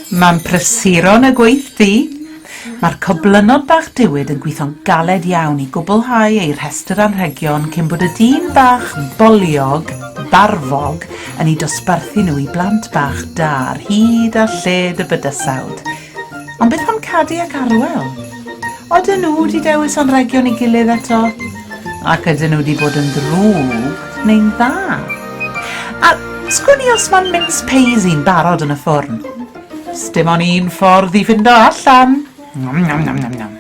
Mae'n prysuro yn y gweithdy. Mae'r coblynod bach diwyd yn gweithio'n galed iawn i gwblhau eu rhestr anrhegion cyn bod y dyn bach boliog, barfog, yn eu dosbarthu nhw i blant bach da ar hyd a lled y bydysawd. Ond beth am Cadi ac Arwel? Odyn nhw wedi dewis anrhegion ei gilydd eto? Ac ydyn nhw wedi bod yn ddrwg neu'n dda? A sgwn i os mae'n mince pays i'n barod yn y ffwrn? Sdim ond un ffordd i fynd o allan. Nom, nom, nom, nom, nom.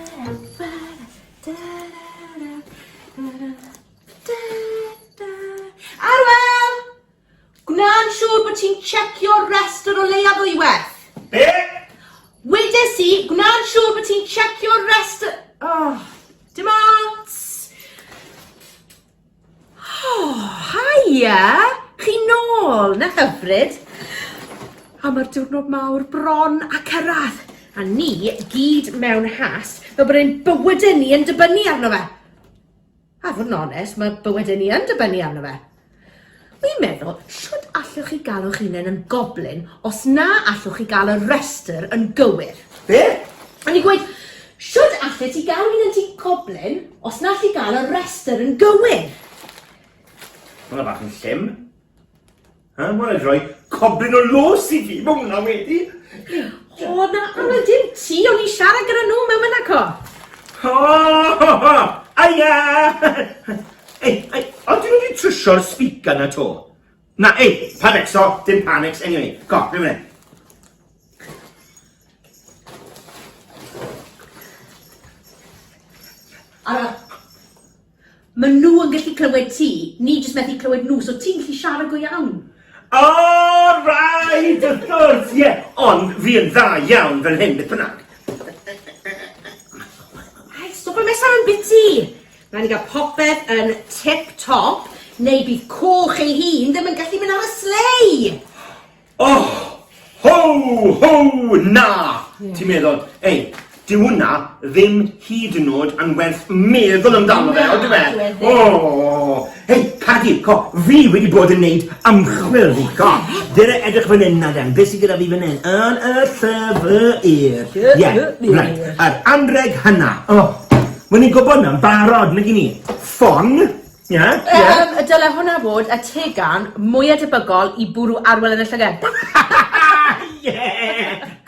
Gwna'n siŵr bod ti'n tshecio'r rhestr o leiaf ddwywaith. Be? Wedes i, gwna'n siŵr bod ti'n tshecio'r rhestr... Oh, dim ots. Oh, haia! Chi nôl, na hyfryd. A mae'r diwrnod mawr bron a cyrraedd, a ni gyd mewn has, fel bod ein bywydau ni yn dibynnu arno fe. A fod yn onest, mae bywydau ni yn dibynnu arno fe. Wi'n meddwl, shwt allwch chi galw'ch hunain yn goblin os na allwch chi gael y rhestr yn gywir? Be? O'n i'n gweud, shwt allet ti galw hunan ti goblin os na alli gael y rhestr yn gywir? Hwnna bach yn llym. Yy, ma' raid roi coblyn o lws i fi, ma' hwnna wedi! O, na, Aled, dim ti, o'n i siarad gyda nhw mewn mynd aco. O, ho, ho, aia! Ei, ei, ond dyn nhw wedi trwsio'r speaker na to. Na, ei, pan exo, dim pan ex, anyway, go, rhywun mynd. Ara, Maen nhw yn gallu clywed ti, ni jyst methu clywed nhw, so ti'n gallu siarad go iawn. O, rhaid, wrth gwrs, ie. Ond fi yn dda iawn fel hyn, beth bynnag. Ai, stop yn mesau yn biti. Rhaid ni gael popeth yn tip-top, neu bydd coch ei hun ddim yn gallu mynd ar y slei. Oh! Ho! Ho! Na! Ti'n meddwl, ei, dyw hwnna ddim hyd yn oed yn werth meddwl amdano fe, on'd yw e? O! Hei, Cadi, co, fi wedi bod yn neud ymchwil, fi, co. Dere edrych fan hyn, Naden, beth sydd gyda fi fan hyn? Yn y llyfr. Ie, right. Yr anreg hynna. Oh, Mae'n i'n gwybod na'n barod, nag i ni? Ffon, Ie, ie. Yym, y dyle hwnna fod y tegan mwya debygol i bwrw arwel yn y llyged. Ie!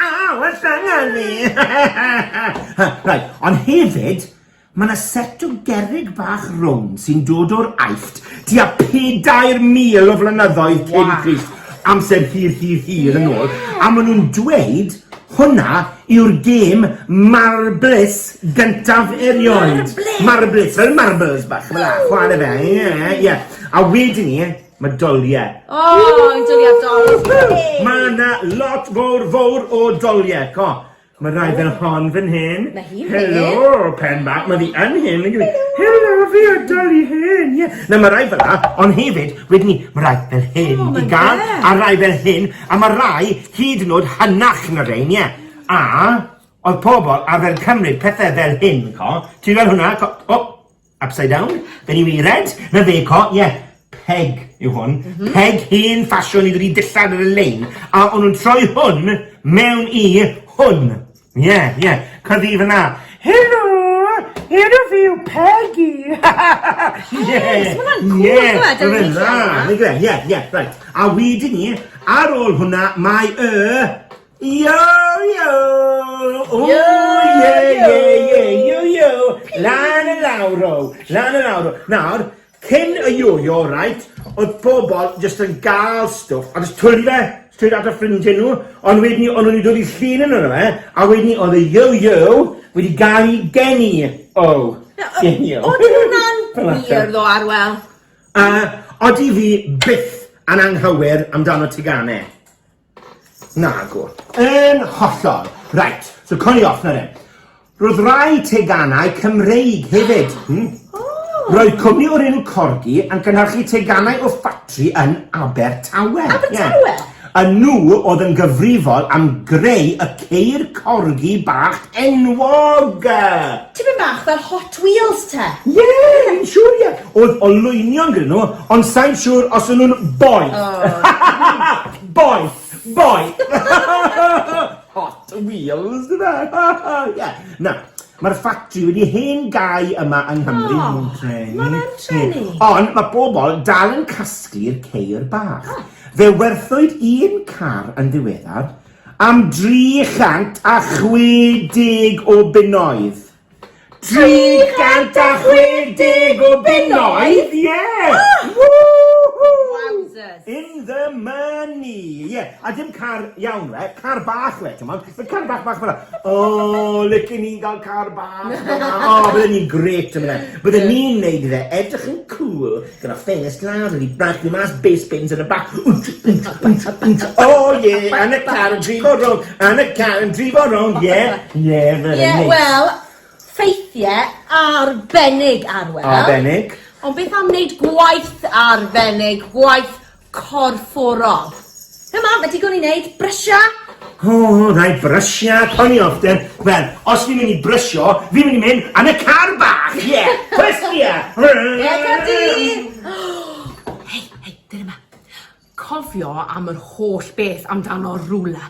Aw, y llyged fi! Right, ond hefyd, mae 'na set o gerrig bach rownd sy'n dod o'r Aifft tua pedair mil o flynyddoedd cyn Crist. amser hir hir hir yn ôl a maen nhw'n dweud hwnna yw'r gêm marbles gyntaf erioed. Marbles, fel marbles bach, fel a, chwarae fe, ie, ie. A wedyn ni, mae doliau. O, oh, doliau doliau. Mae yna lot fawr fawr o doliau, co. Mae rhai fel hon fan hyn. Mae hi'n hen. Helo, pen bach. Mae fi yn hen. nag yw e? Helo, fi a Dolly hen. Ie. Na, mae rhai fel la, ond hefyd, wedyn ni, mae rhai fel hyn i gael, a rhai fel hyn, a mae rhai hyd yn oed hynach na rhein, ie. A oedd pobl arfer cymryd pethau fel hyn, co. Ti'n gweld hwnna? Co- O! Upside down. Fe ni wedi red. Rebecca, ie. Yeah. Peg yw hwn. Mm -hmm. Peg hen ffasiwn i wedi dillad ar y lein. A o'n nhw'n troi hwn mewn i hwn. Ie, yeah, ie. Yeah. Cyddi fyna. Helo! Helo fi yw Peggy! Ie! Ie! Mae'n dda! Mae'n gre, ie, ie, rhaid. A wedyn ni, ar ôl hwnna, mae y... Yo, yo! O, yo, yo, yo, yo, yo, yo! Lan y lawr o, lan y lawr o. Nawr, cyn y yo-yo, right, oedd pobl jyst yn gael stwff, a jyst twli fe, stryd at y ffrindiau nhw, ond wedyn ni, ond nhw'n dod i llun yn yno fe, a wedyn ni, oedd y yo-yo wedi gael i geni o. Geni o. Oedd hwnna'n wir ddo, Arwel? Uh, odi fi byth yn anghywir amdano teganau. Nagw. Yn hollol. Reit, so cwn i off na ddim. Roedd rai teganau Cymreig hefyd. Hmm. Roedd cwmni o'r enw Corgi yn cynnyrchu teganau o ffatri yn Abertawe. Abertawe? Yeah. A nhw oedd yn gyfrifol am greu y ceir corgi bach enwog. Tipyn bach fel hot Twîls te! Ie! Fi'n siŵr ie! Oedd olwynion gyda nhw, ond sai'n siŵr os o'n nhw'n boi! Boeth! Boeth! Hot Wheels, dy fe? Ie. Na, mae'r ffatri wedi hen gau yma yng Nghymru. O! Mae'n treni. Mae'n treni. Ond mae pobl dal yn casglu'r ceir bach. Fe werthwyd un car yn ddiweddar am 360 o bunnoedd. 360 o bunnoedd! Ie! Wowzers! In the money! Ie, a dim car iawn we, car bach we, ti'n modd? Mae car bach bach fel O, lycyn ni gael car bach fel O, bydden ni'n gret yn fe. Bydden ni'n neud fe edrych yn cool. Gyda famous lad yn ei bragio mas bass bins yn y bac. Wnt, wnt, wnt, wnt, o ie, yn y car yn drifo rownd, yn y car yn drifo rownd, ie, ie, fel yeah, hynny. Wel, ffeithiau arbennig, Arwel. Arbennig. Ond beth am wneud gwaith arbennig, gwaith corfforol. Hei mam, ma' digon i wneud, brysio! O, rhaid brysio, coeliwch de. Wel, os fi'n mynd i brysio, fi'n mynd i mynd yn y car bach, ie! Yeah. Cwestia! Ega di! Hei, hei, dyna ma. Cofio am yr holl beth amdano rwla.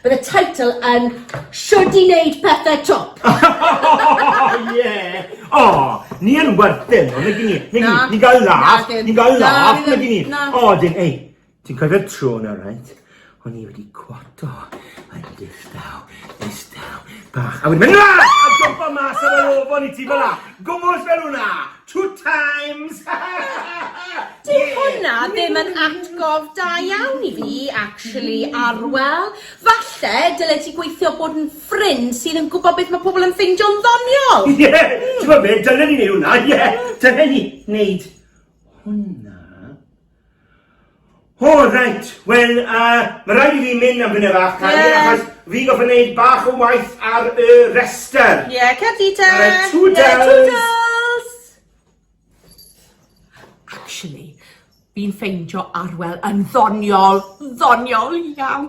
Bydd y teitl yn Shwd i wneud pethau twp! Ie! O! Ni yn werthin nhw, nag 'yn ni? Nag 'yn ni? Ni'n cael laff, ni'n cael laff, nag 'yn ni? O ydyn, ei! Ti'n cofio'r tro 'na reit? O'n i wedi cwato yn distaw, distaw, bach, a wedyn mynd 'na! A jwmpa mas ar yr afon i ti fel 'na! Gwmws fel hwnna! Two times! Dyw hwnna ddim yn atgof da iawn i fi, actually, Arwel. Falle dyle ti gweithio bod yn ffrind sydd yn gwybod beth mae pobl yn ffeindio'n ddoniol. Ie, yeah. ti'n gwybod beth, dylen ni wneud hwnna, ie. Yeah. Dylen ni wneud hwnna. O reit, wel yy ma' raid i fi mynd am funud fach Cari... Ie. ...achos fi'n gorfod neud bach o waith ar y rester. Ie, cer di te! Alright, twdls! Ie, twdls! Actually, fi'n ffeindio Arwel yn ddoniol, ddoniol iawn.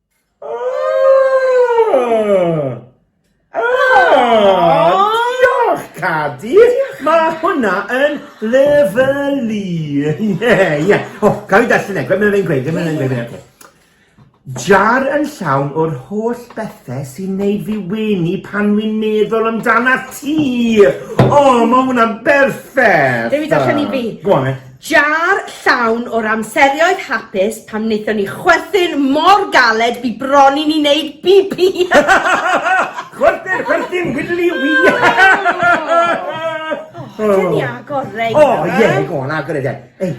Cadi! Mae hwnna yn lyfylu! Ie, ie. O, cael ei darllen e, mae'n fe'n gweud, mae'n fe'n gweud, mae'n gweud. Jar yn llawn o'r holl bethau sy'n neud fi wenu pan wy'n meddwl amdana ti! O, mae hwnna'n berffaith! Dewi, darllen i fi. Go on, then. Jar llawn o'r amserioedd hapus pan wnaethon ni chwerthin mor galed bu bron i ni wneud bibi! Chwerthin, chwerthin, widdly wee! O, dyn ni agor rei O, nawr, ie, go on, agor e de. Ei,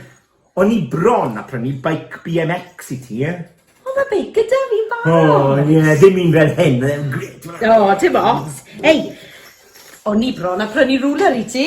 o'n i bron a prynu bike BMX i ti, ie? O, mae beic gyda fi'n barod! O, ie, ddim un fel hyn, mae e'n grêt! O, dim ots. Ei, o'n i bron a prynu rŵler i ti.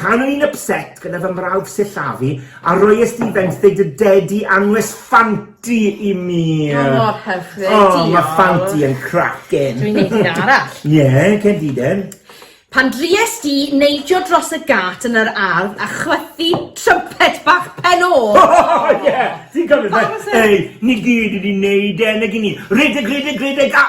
Pan o'n i'n ypset gyda fy mrawd sillafu a roies di fenthyg dy dedi anwes Ffanti i mi! O mor hyfryd, diolch! O, ma Ffanti yn cracin! Dwi'n neud un arall. Ie, cen di den. Pan drues di neidio dros y gât yn yr ardd a chwythu trympet bach Pen-y O! O ie! Ti'n cofio fe? Ei, ni gyd wedi neud e, nag i ni? Rhedeg, rhedeg, rhedeg a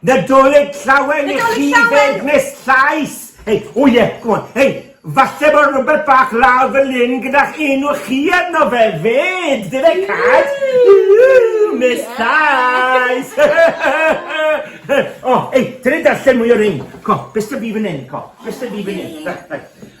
Nadolig Llawen i chi fed Miss Llais! Hei, o ie, go on, hei, falle bod rhywbeth bach lawr fy lyn gyda'ch enw chi arno fe fed! Dyle cad! Miss Llais! O, hei, dyle darllen mwy o rein. Co, beth sydd fi fan hyn, co? Beth sydd fi fan hyn?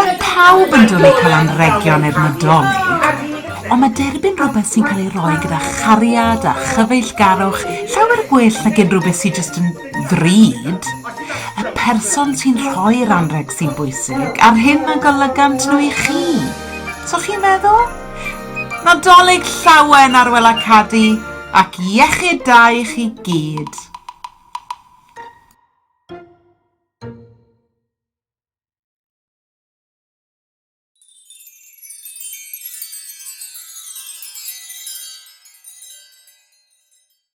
Mae pawb yn dwlu cael anrhegion i'r Nadolig, ond mae derbyn rhywbeth sy'n cael ei roi gyda chariad a chyfeillgarwch llawer gwell nag unrhyw beth sy jyst yn ddrud, y person sy'n rhoi'r anrheg sy'n bwysig, a'r hyn a golygant nhw i chi. So chi'n meddwl? Nadolig llawen ar Wela Cadi ac iechyd da i chi gyd.